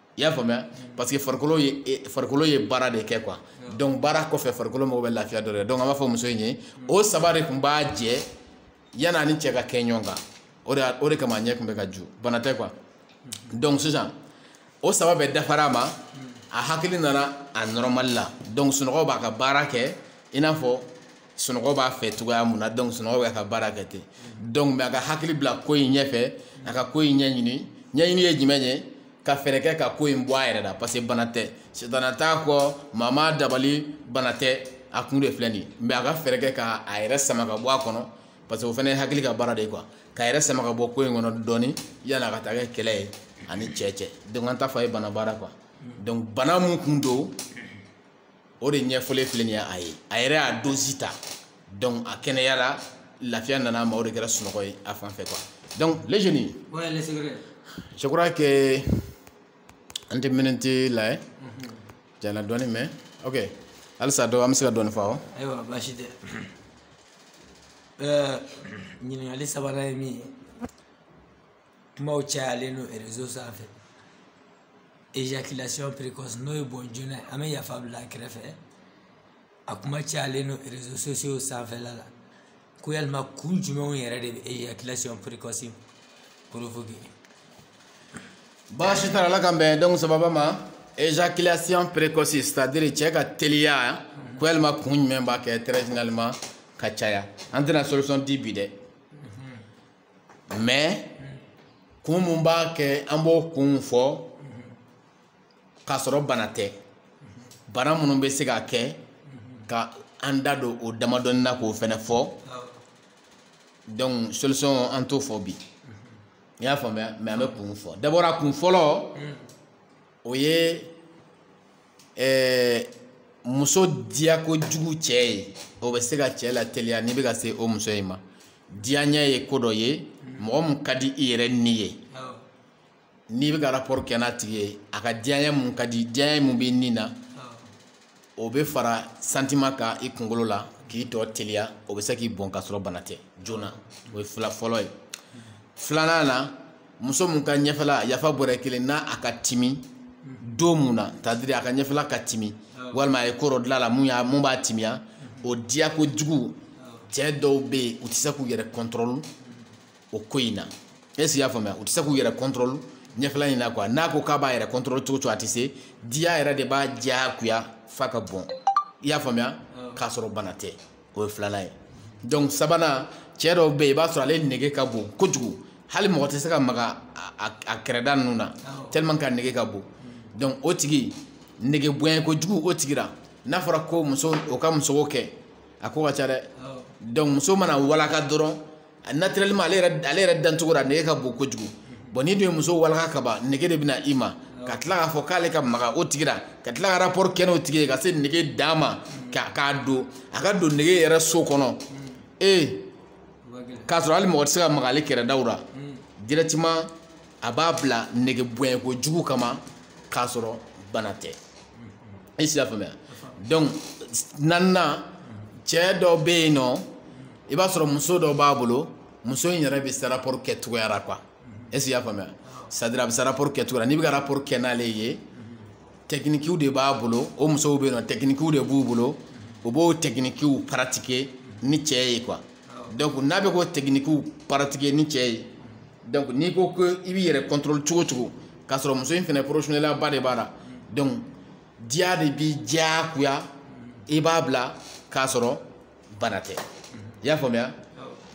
i y'a faamuya parce que farikolo ye e- farikolo ye baara de kɛ quoi donc baara kɔfɛ farikolo mago bɛ lafiya dɔ de la donc an b'a fɔ muso in ye o saba de tun b'a jɛ yanni a ni cɛ ka kɛ ɲɔgɔn kan o de y'a- o de kama a ɲɛ tun bɛ ka ju bana tɛ quoi donc sisan o saba bɛɛ dafara a ma a hakili nana a normal la donc sunɔgɔ b'a ka baara kɛ i n'a fɔ sunɔgɔ b'a fɛ cogoya mun na donc sunɔgɔ bɛ ka baara kɛ ten donc mais a ka hakili bila ko in ɲɛfɛ a ka ko in ɲɛɲini ɲɛɲini ye jumɛn ye ka fɛɛrɛ kɛ ka ko in bɔ a yɛrɛ la parce que bana tɛ sitana t'a kɔ maa m'a dabali bana tɛ a kun de filɛ nin ye mais a ka fɛɛrɛ kɛ ka a yɛrɛ sama ka bɔ a kɔnɔ parce que o fana ye hakili ka baara de ye quoi ka yɛrɛ sama ka bɔ ko in kɔnɔ dɔɔni yanni a ka taa kɛ kɛlɛ ye a ni cɛ cɛ donc an t'a fɔ a ye bana baara quoi donc bana mun kun don o de ɲɛfɔlen filɛ nin ye a ye a yɛrɛ y'a dozi ta donc a kɛnɛyara lafiya nana a ma o de kɛra sunɔgɔ ye a fan fɛ quoi donc les jeunes je crois que an tɛ miniti la ye jana dɔɔni mais ok halisa dɔ an bɛ se ka dɔɔni fɔ awɔ ayiwa baasi tɛ ɲininkali sabanan ye min ye kumaw cayalen don réseau sanfɛ éjaculation précoce n'o ye bɔn joona ye an bɛ yafa bila a kɛrɛfɛ a kuma cayalen don réseaux sociaux sanfɛla la ko yalima kun jumɛnw yɛrɛ de bɛ éjaculation précoce provoquer baasi t'a la ala k'an bɛn don sababa ma éjaculation précoce c'est à dire cɛ ka teliya ko yalima kun jumɛn b'a kɛ très généralement ka caya an tɛna solution di bi dɛ mais kun mun b'a kɛ an b'o kun fɔ k'a sɔrɔ bana tɛ bana minnu bɛ se ka kɛ ka an da don o damadɔnin na k'o fɛnɛ fɔ donc solution an t'o fɔ bi i y'a faamuya mais an bɛ kun fɔ d'abord a kun fɔlɔ o ye ɛɛ muso diya kojugu cɛ ye o bɛ se ka cɛ lateliya n'i bɛ ka se o muso in ma diyaɲɛ ye ko dɔ ye mɔgɔ min ka di i yɛrɛ ni ye n'i bɛ ka rapport kɛ n'a tigi ye a ka diyaɲɛ mun ka di diyaɲɛ mun b'i ni na o bɛ fara sentiment kan i kunkolo la k'i tɔ teliya o bɛ se k'i bɔn k'a sɔrɔ bana tɛ joona o ye fila fɔlɔ ye filanan na muso mun ka ɲɛfɛla yafa bɔrɛ kelen na a ka timi don mun na c'est à dire a ka ɲɛfɛla ka timi walima a ye ko dɔ dilan a la mun y'a mun b'a timiya o diya kojugu cɛ dɔw bɛ yen u tɛ se k'u yɛrɛ kɔntɔrɔli o ko in na est-ce que i y'a faamuya u tɛ se k'u yɛrɛ kɔntɔrɔli ɲɛfɛla in na quoi n'a ko k'a b'a yɛrɛ kɔntɔrɔli cogo cogo a tɛ se diya yɛrɛ de b'a diyagoya f'a ka bɔn i y'a faamuya k'a sɔrɔ bana tɛ o ye filanan ye donc sabanan cɛ dɔw bɛ yen i b'a sɔrɔ ale nege ka bon kojugu hali mɔgɔ tɛ se ka maga a kɛrɛda ninnu na tellement que a nege ka bon donc o tigi nege bonya kojugu o tigi la n'a fɔra ko muso o ka muso kɛ a ko ka ca dɛ donc muso mana walaka dɔrɔn a naturellement ale yɛrɛ ale yɛrɛ dancogo la nege ka bon kojugu bon n'i dun ye muso walaka ka ban nege de bɛna i ma ka tila k'a fɔ k'ale ka maga o tigi la ka tila ka rapport kɛ n'o tigi ye ka se nege dan ma ka k'a don a ka don nege yɛrɛ so kɔnɔ ee k'a sɔrɔ hali mɔgɔ tɛ se ka maga ale kɛrɛdaw la directement a b'a bila nege bonya kojugu kama k'a sɔrɔ bana tɛ i y'a faamuya donc naaninan cɛ dɔ bɛ yen nɔ i b'a sɔrɔ muso dɔ b'a bolo muso in yɛrɛ bɛ se rapport kɛ cogoya la quoi est ce que i y'a faamuya c'est à dire a bɛ se rapport kɛ cogoya la n'i bɛ ka rapport kɛ n'ale ye tɛkinikiw de b'a bolo o musow bɛ yen nɔ tɛkinikiw de b'u bolo u b'o tɛkinikiw pratiquer ni cɛ ye quoi donc n'a bɛ k'o tɛkinikiw pratiquer ni cɛ ye donc n'i ko ko i b'i yɛrɛ contrôle cogo cogo k'a sɔrɔ muso in fɛnɛ professionnelya ba de b'a la donc diya de b'i diyagoya i b'a bila k'a sɔrɔ bana tɛ i y'a faamuya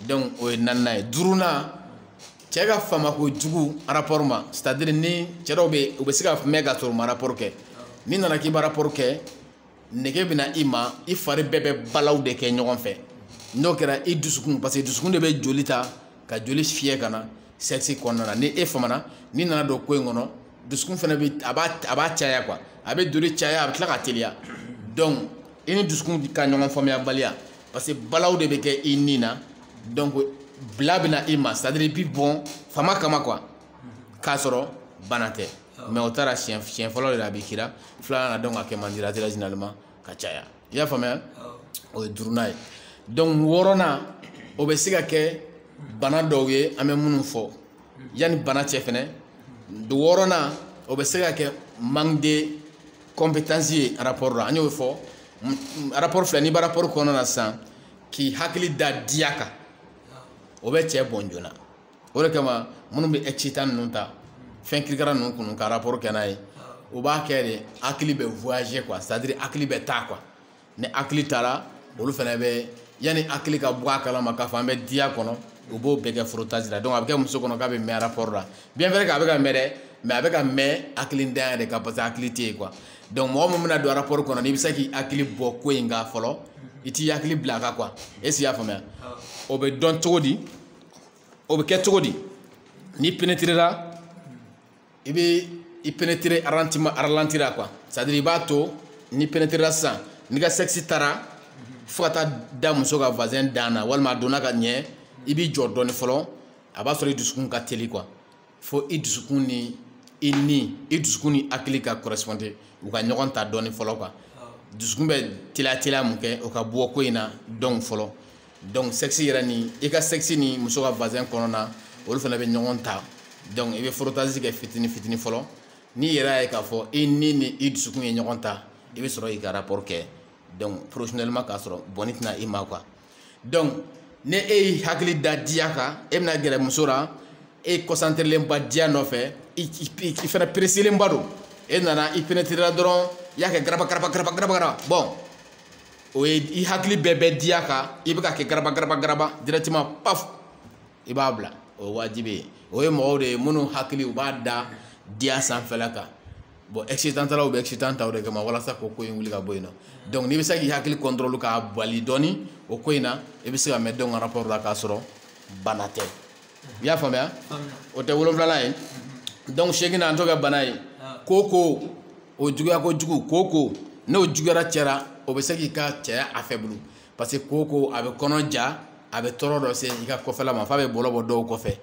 donc o ye naaninan ye duurunan cɛ ka fama kojugu rapport ma c'est à dire ni cɛ dɔw bɛ u bɛ se ka mɛn ka sɔrɔ u ma rapport kɛ n'i nana k'i bɛ rapport kɛ nege bɛ na i ma i fari bɛɛ bɛ balaw de kɛ ɲɔgɔn fɛ n'o kɛra i dusukun parce que dusukun de bɛ joli ta ka joli fiyɛ ka na sexe kɔnɔna na ni e famana n'i nana don ko in kɔnɔ dusukun fana bɛ a b'a a b'a caya quoi a bɛ joli caya a bɛ tila ka teliya donc i ni dusukun ka ɲɔgɔn faamuyabaliya parce que balaw de bɛ kɛ i ni na donc bila bɛ na i ma c'est à dire i bɛ bɔn fama kama quoi k'a sɔrɔ bana tɛ mais o taara siɲɛ siɲɛ fɔlɔ de la a bɛ kira filanan na donc a kɛ man di la généralement ka caya. i y'a faamuya o ye duurunan ye donc wɔɔrɔnan o bɛ se ka kɛ bana dɔw ye an bɛ minnu fɔ yanni bana cɛ fɛnɛ wɔɔrɔnan o bɛ se ka kɛ manque de compétence ye rapport la an y'o fɔ rapport filɛ n'i bɛ rapport kɔnɔna na sisan k'i hakili da diya kan o bɛ cɛ bɔn joona o de kama minnu bɛ excitant ninnu ta fɛn kirikara ninnu kunu ka rapport kɛ n'a ye o b'a kɛ de hakili bɛ voyager quoi c'est à dire hakili bɛ taa quoi ni hakili taara olu fana bɛ yanni hakili ka bɔ a kalama k'a fɔ an bɛ diya kɔnɔ u b'o bɛɛ kɛ frottage la donc a bɛ kɛ muso kɔnɔ k'a bɛ mɛn rapport la bien vrai k'a bɛ ka mɛn dɛ mais a bɛ ka mɛn hakilintanya de kan parce que hakili tɛ yen quoi donc mɔgɔ min bɛna don rapport kɔnɔ n'i bɛ se k'i hakili bɔ ko in kan fɔlɔ i t'i hakili bila a kan quoi est ce que i y'a faamuya o bɛ dɔn cogo di. o bɛ kɛ cogo di n'i pénétrera i bɛ i pénétrer arantima ralenti ra quoi c'est à dire i b'a to n'i pénétrera sisan n'i ka sexe taara fo ka taa da muso ka vagin dan na walima a donna ka ɲɛ i b'i jɔ dɔɔni fɔlɔ a b'a sɔrɔ i dusukun ka teli quoi fo i dusukun ni i ni i dusukun ni hakili ka correspondre u ka ɲɔgɔn ta dɔɔni fɔlɔ quoi dusukun bɛ teliya teliya mun kɛ o ka bɔ ko in na dɔɔni fɔlɔ donc sexe yɛrɛ ni i ka sexe ni muso ka vagin kɔnɔna olu fana bɛ ɲɔgɔn ta donc i bɛ frottage kɛ fitini fitini fɔlɔ n'i yɛrɛ y'a ye k'a fɔ i ni ni i dusukun ye ɲɔgɔn ta i bɛ sɔrɔ k'i ka rapport kɛ donc professionnellement k'a sɔrɔ bɔnni tɛ na i ma quoi donc ni e y'i hakili da diya kan e bɛna gɛrɛ muso la e kɔsanterelenba diya nɔfɛ i fana pereselenba don e nana i penetrera dɔrɔn i y'a kɛ garaba garaba garaba garaba garaba bon o ye i hakili bɛɛ bɛ diya kan i bɛ k'a kɛ garaba garaba garaba directement paf i b'a bila o ye wajibi ye o ye mɔgɔw de ye minnu hakili u b'a da diya sanfɛla kan bon excitant talaw bɛ excitant ta o de kama walasa k'o ko in wuli ka bɔ yen nɔ donc n'i bɛ se k'i hakili contrôle k'a bali dɔɔni o ko in na i bɛ se ka mɛn donc rapport la k'a sɔrɔ bana tɛ i y'a faamuya o tɛ wolonwulanan ye donc seeginnan an t'o kɛ bana ye koko o juguya kojugu koko n'o juguyara cɛ ra o bɛ se k'i ka cɛya affaiblir parce que koko a bɛ kɔnɔ ja a bɛ tɔɔrɔ dɔ se i ka kɔfɛla ma f'a bɛ bɔlɔ bɔ dɔw kɔfɛ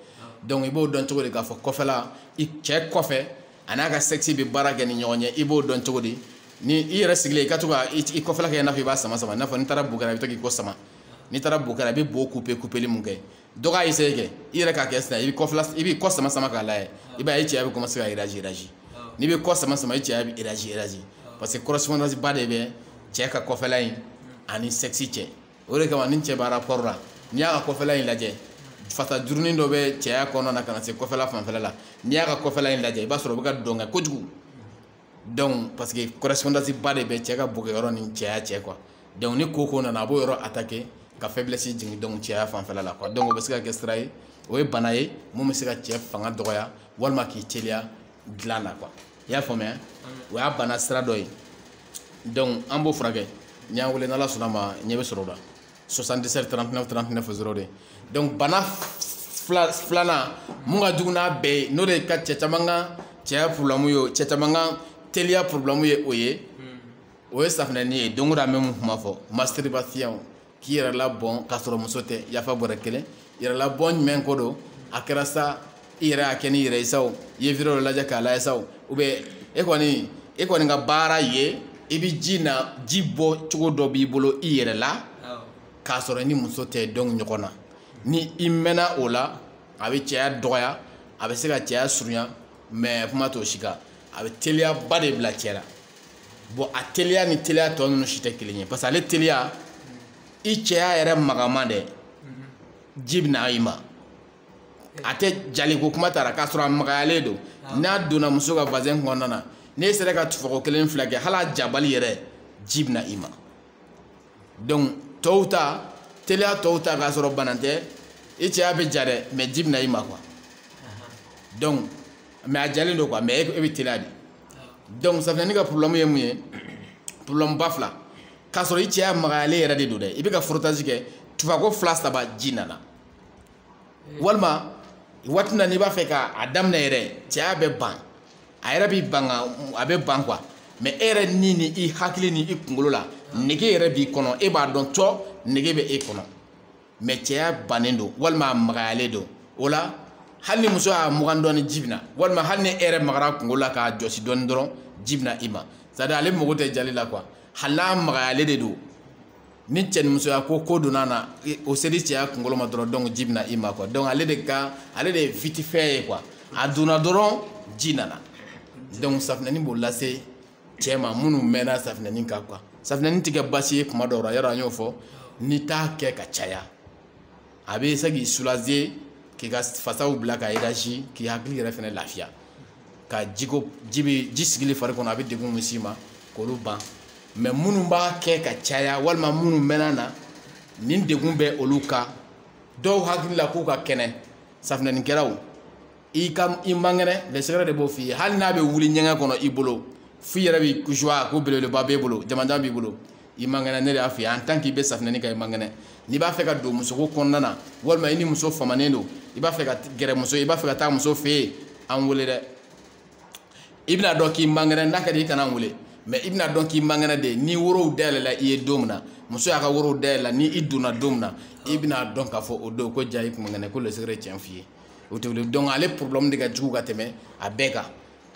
donc i b'o dɔn cogo di k'a fɔ kɔfɛla i cɛ kɔfɛ a n'a ka sexe bɛ baara kɛ ni ɲɔgɔn ye i b'o dɔn cogo di ni i yɛrɛ sigilen i ka to ka i kɔfɛla kɛ i n'a fɔ i b'a sama sama i n'a fɔ n'i taara bo kɛ ra i bɛ to k'i kɔ sama n'i taara bo kɛ ra i bɛ bo kupe kupeli mun kɛ dɔ k'a essayer kɛ i yɛrɛ k'a kɛ sisan i bɛ kɔfɛla i b'i kɔ sama sama k'a lajɛ i b'a ye i cɛya bɛ commencer ka réagir réagir n'i bɛ kɔ sama sama i cɛya bɛ réagir réagir parce que correspondance ba de bɛ cɛ ka kɔfɛla in ani sexe cɛ o de kama ni cɛ b'a rapport la n'i y'a ka kɔfɛla in lajɛ fasa jurunin dɔ bɛ cɛya kɔnɔna na ka na se kɔfɛla fanfɛla la n'i y'a ka kɔfɛla in lajɛ i b'a sɔrɔ o bɛ ka dɔn kɛ kojugu donc parce que correspondance ba de bɛ cɛ ka bokɛyɔrɔ ni cɛya cɛ quoi donc ni koko nana a b'o yɔrɔ attaquer ka faiblesse jigin donc cɛya fanfɛla la quoi donc o bɛ se ka kɛ sira ye o ye bana ye mun bɛ se ka cɛ fanga dɔgɔya walima k'i teliya dilan na quoi i y'a faamuya o y'a bana sira dɔ ye donc an b'o furakɛ n'i y'an wele n'ala sɔnna ma ɲɛ bɛ sɔrɔ o la 77 39 39 02 donc bana filanan mun ka jugu n'a bɛɛ ye n'o de ka cɛ caman ka cɛya problème ye cɛ caman ka teliya problème ye o ye o ye safinɛni ye don o don an bɛ mun kuma fɔ masturbation k'i yɛrɛ labɔn k'a sɔrɔ muso tɛ yafa bɔrɛ kelen yɛrɛ labɔn jumɛn ko don a kɛra sa i yɛrɛ y'a kɛ n'i yɛrɛ ye sa o i ye video dɔ lajɛ k'a lajɛ sa o ou bien e kɔni e kɔni ka baara ye i bɛ ji na ji bɔ cogo dɔ b'i bolo i yɛrɛ la k'a sɔrɔ i ni muso tɛ don ɲɔgɔn na ni i mɛnna o la a bɛ cɛya dɔgɔya a bɛ se ka cɛya surunya mais kuma t'o si kan a bɛ teliyaba de bila cɛ la bon a teliya ni teliya tɔ ninnu si tɛ kelen ye parce que ale teliya i cɛya yɛrɛ magaman de ji bɛ na i ma a tɛ jaliko kuma t'a ra k'a sɔrɔ a magayalen don ah. n'a donna muso ka vagin kɔnɔna na n'e sera ka tufɔgɔ kelen fila kɛ hali a jabali yɛrɛ ji bɛ na i ma donc tɔw ta teliya tɔw ta k'a sɔrɔ bana tɛ i cɛya bɛ ja dɛ mais ji bɛ na i ma quoi donc mais a jalen don quoi mais e bɛ teliya de donc safinɛni ka problème ye mun ye problème ba fila k'a sɔrɔ i cɛya magayalen yɛrɛ de don dɛ i bɛ ka frottage kɛ tufako fila saba ji nana walima waati na n'i b'a fɛ ka a daminɛ yɛrɛ cɛya bɛ ban a yɛrɛ b'i ban a bɛ ban quoi mais e yɛrɛ ni ni i hakili ni i kunkolo la nege yɛrɛ b'i kɔnɔ e b'a dɔn cɔ nege bɛ e kɔnɔ mais cɛya bannen don walima a magayalen don o la hali ni muso y'a mugan dɔɔni ji bɛ na walima hali ni e yɛrɛ magara kunkolo la k'a jɔsi dɔɔni dɔrɔn ji bɛ na i ma c'est à dire ale mago tɛ jali la quoi hali n'a magayalen de don ni cɛ ni musoya ko ko donna na o seli cɛya kunkolo ma dɔrɔn donc ji bɛ na i ma quoi donc ale de ka ale de ye vite fait ye quoi a donna dɔrɔn ji nana donc safinɛni b'o lase cɛ ma minnu mɛnna safinɛni kan quoi safinɛni tɛ kɛ baasi ye kuma dɔw la yɔrɔ an y'o fɔ n'i t'a kɛ ka caya a bɛ se k'i soulager k'i ka fasaw bila ka élargi k'i hakili yɛrɛ fɛnɛ lafiya ka jiko ji bɛ ji sigili fari kɔnɔ a bɛ degun min s'i ma k'olu ban mais minnu b'a kɛ ka caya walima minnu mɛnna na nin degun bɛ olu kan dɔw hakili la k'u ka kɛnɛ safinɛnikɛlaw i ka i man kɛnɛ le secret de b'o f'i ye hali n'a bɛ wuli ɲɛgɛn kɔnɔ i bolo f'i yɛrɛ b'i kusuwa ko belebeleba b'e bolo jamanjan b'i bolo i man kɛnɛ ne de y'a f'i ye en tant k'i bɛ safinɛni kɛ i man kɛnɛ n'i b'a fɛ ka don musoko kɔnɔna na walima i ni muso famanen don i b'a fɛ ka gɛrɛ muso i b'a fɛ ka taa muso fɛ yen an wele dɛ i bɛna dɔn k'i man kɛnɛ n'a ka di i kana n wele mais i bɛna dɔn k'i man kɛnɛ dɛ ni worow dayɛlɛla i ye don min na muso y'a ka worow dayɛlɛla ni i donna don min na i bɛna dɔn k'a fɔ o don ko jaa i kun man kɛnɛ ko le secret tiɲɛ f'i ye o tɛ wuli donc ale problème de ka jugu ka tɛmɛ a bɛɛ kan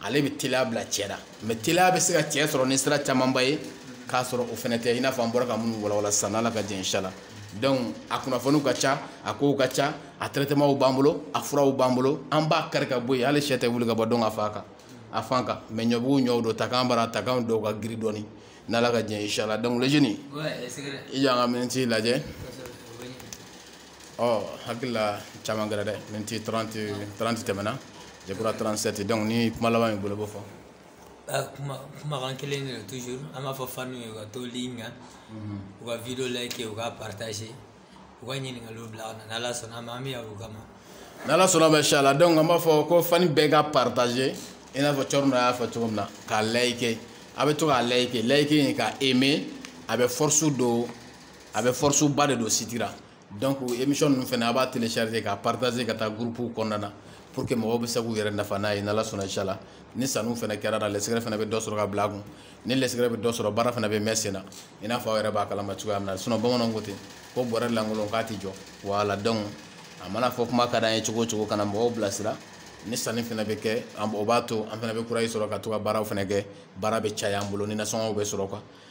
ale bɛ teliya bila cɛ la mais teliya bɛ se ka cɛ sɔrɔ ni sira camanba ye k'a sɔrɔ o fɛnɛ tɛ i n'a fɔ an bɔra ka minnu walawala sisan n'ala ka jɛ inshala donc a kunnafoniw ka ca a kow ka ca a traitement b'an bolo a furaw b'an bolo an b'a kari ka bɔ yen hali sɛ tɛ wuli ka bɔ donc a fa kan a fan kan mais ɲɔbugu ɲɔw don takan bara takan dɔw ka giri dɔɔni n'ala ka jɛ inshala donc le jeune i y'an ka miniti lajɛ ɔ hakili la caman kɛra dɛ miniti 30 30 tɛmɛna je crois 37 donc ni kuma laban b'i bolo b'o fɔ ah, kuma kumakan kelen de toujours an b'a fɔ fanw ye u ka to ligne kan mhm. u ka video like u ka partager u ka ɲininkaliw bila ka na n'ala sɔnna a ma an bɛ yan u kama n'ala sɔnna ma inshala donc an b'a fɔ ko fani bɛɛ ka partager i n'a fɔ cɔrɔna y'a fɔ cogo min na k'a like a bɛ to k'a like like in ka aimer a bɛ force don a bɛ force ba de don site ra donc émission ninnu fɛnɛ a b'a télécharger k'a partager ka taa groupe kɔnɔna na pour que mɔgɔw bɛ se k'u yɛrɛ nafa n'a ye n'ala sɔnna inshallah ni sanni fɛnɛ kɛra la le secret fɛnɛ bɛ dɔ sɔrɔ ka bila a kun ni le secret bɛ dɔ sɔrɔ baara fɛnɛ bɛ mɛn sen na i n'a fɔ aw yɛrɛ b'a kalama cogoya min na sinon bamananw ko ten ko bɔrɛ lankolon k'a tɛ jɔ voilà donc a mana fɔ kuma ka d'an ye cogo o cogo ka na mɔgɔw bilasira ni sanni fɛnɛ bɛ kɛ o b'a to an fɛnɛ bɛ courage sɔrɔ ka to ka baaraw fɛnɛ kɛ baara bɛ caya an bolo ni nasɔngɔw bɛ sɔrɔ quoi